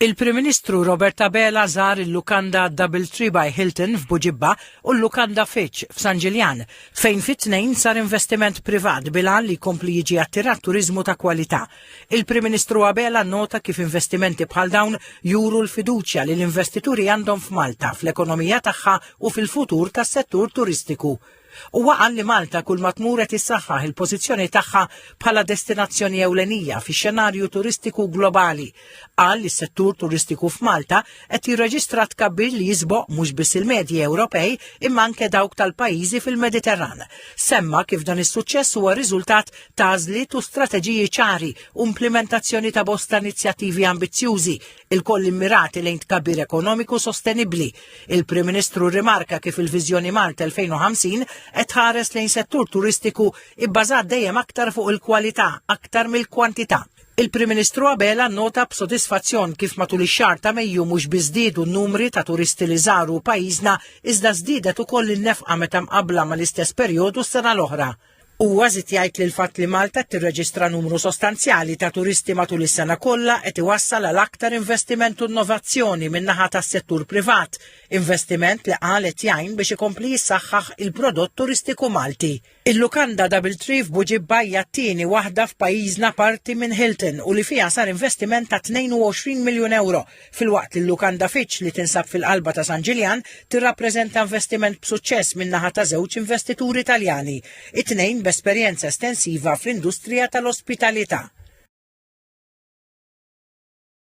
Il-Prim Ministru Robert Abela żar il-lukanda Double Tree by Hilton f'Buġibba u l-lukanda Fitch f'San Ġiljan, fejn fit-Tnejn sar investiment privat bil-għan li jkompli jiġi attirat turiżmu ta' kwalità. Il-Prim Ministru Abela nnota kif investimenti bħal dawn juru l-fiduċja li l-investituri għandhom f'Malta, fl-ekonomija tagħha u fil-futur tas-settur turistiku Huwa qal li Malta kulma tmur qed issaħħaħ il-pożizzjoni tagħha bħala destinazzjoni ewlenija fix-xenarju turistiku globali. Qal li s-settur turistiku f'Malta qed jirreġistra tkabbir li jisboq mhux biss il-medji Ewropej imma anke dawk tal-pajjiżi fil-Mediterran. Semma kif dan is-suċċess huwa riżultat ta' għażliet u strateġiji ċari u implimentazzjoni ta' bosta inizjattivi ambizzjużi ilkoll immirati lejn tkabbir ekonomiku sostenibbli. Il-Prim Ministru rimarka kif il-Viżjoni Malta 2050 qed tħares lejn settur turistiku ibbażat dejjem aktar fuq il-kwalità aktar mill-kwantità. Il-Prim Ministru Abela nnota b'sodisfazzjon kif matul ix-xahar ta' Mejju mhux biss żdiedu n-numri ta' turisti li żaru pajjiżna iżda żdiedet ukoll in-nefqa meta mqabbla mal-istess perjodu s-sena l-oħra. Huwa żied jgħid li l-fatt li Malta tirreġistra numru sostanzjali ta' turisti matul is-sena kollha qed iwassal għal aktar investiment u innovazzjoni min-naħa tas-settur privat, investiment li qal qed jgħin biex ikompli jissaħħaħ il-prodott turistiku Malti. Il-lukanda Doubletree f'Buġibba hija t-tieni waħda f'pajjiżna parti minn Hilton u li fiha sar investiment ta' 22 miljun ewro filwaqt li l-lukanda Fitch li tinsab fil-qalba ta' San Ġiljan tirrappreżenta investiment b'suċċess min-naħa ta' żewġ investituri Taljani, it-tnejn b'esperjenza estensiva fl-industrija tal-ospitalità.